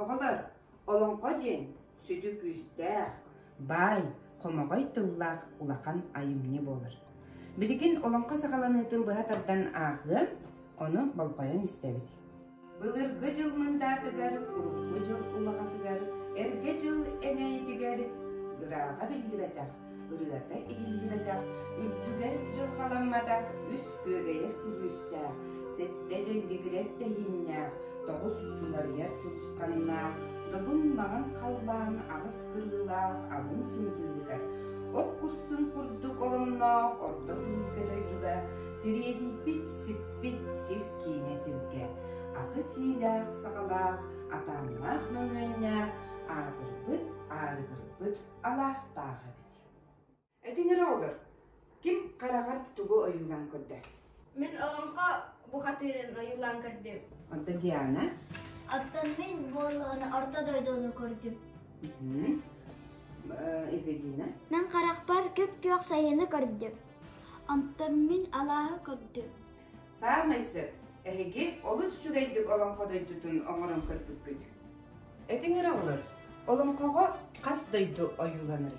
Оҕолор, олоҥхо диэн сүдү күүстээх, баай, хомоҕой тыллаах улахан айымньы буолар. Билигин олоҥхо саҕаланыытын быһа тардан ааҕыам, ону болҕойон истэбит. Былыргы дьыл мындаатыгар, урукку дьыл улаҕатыгар, эргэ дьыл эҥэйитигэр ырааҕа биллибэтэх, ырыата иһиллибэтэх, үрдүгэр дьылҕаламмата үс күөгэйэр күлүүстээх, сэттэ дьэллигирэр тэһииннээх, тоҕус чунарыйар чугусканнаах, догун маҥан халлаан аҕыс кырыылаах алын сындыыһыгар, от курсун курдук оломноох ордо күлгэ дойдуга сириэдийбит сиппит эппит сир-киинэ сиргэ акы-сиилээх-саҕалаах атааннаах мөҥүөннээх аатырбыт аарыгырбыт алаастаах эбит. Этиҥэр оҕолор, ким хараҕар тугу ойуулаан көрдө? Мин олоҥхо бухатыырын ойуулаан көрдүм. Онто Диана? Оттон мин буоллаҕына орто дойдуну көрдүм. Эпигина? Э, Мен харахпар күп-күөх сайыны көрдүм. Амтаммын алааһы көрдүм Саамай сөп, эһиги олус үчүгэйдик олоҥхо дойдутун оҥорон көрбүккүт. Этиҥ эрэ олор, олоҥхоҕо хас дойду ойууланар?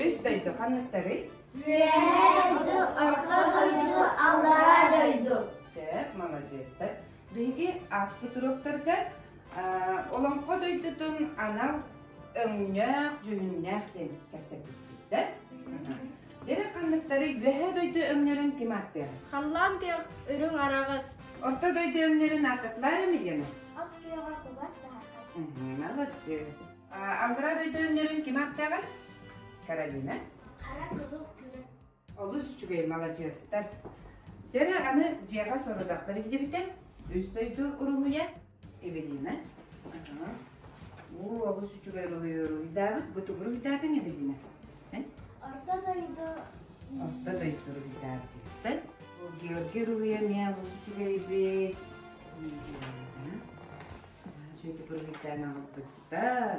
Үс дойду ханныктарый? Үөһээ дойду, орто дойду, аллараа дойду. Сөп, молодецтар. Биһиги ааспыт уруоктарга олоҥхо дойдутун анал өҥнөөх, дьүһүннээх диэн кэпсэппиппиттэр. Дэрэ ханныктары үөһээ дойду өҥнөрүн ким ааттыаҕын? Халлаан көх, үрүҥ араҕас. Орто дойду өҥнөрүн ааттатылар эмигэни? Ас күйэҕэ кугас саһархай. Молодец. Алгыра дойду өҥнөрүн ким ааттааҕын? Каролина. Хара кызыл күрүн. Олус үчүгэй маладьыастар. Дьэрэ аны дьиэҕэ сорудахпар иллибитэ. Үс дойду уруһуйа. Эвелина. Уу олус үчүгэй уруһуйу уруһуйдаабыт. Бу тугуру бүтээтиҥ Эвелина? Орто дойду Орто дойду уруһуйдаабыт. Бу Георгий уруһуйа эмиэ олус үчүгэйбит. Үчүгэй уруһуйдаан аҕалбыттар.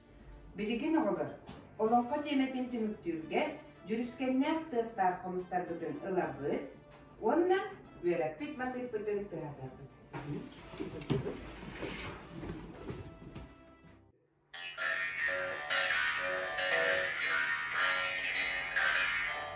Билигин оҕолор олоҥхо тиэмэтин түмүктүүргэ дьүрүскэннээх тыастаах хомустарбытын ыларбыт уонна үөрэппит матыыппытын тыһатарбыт.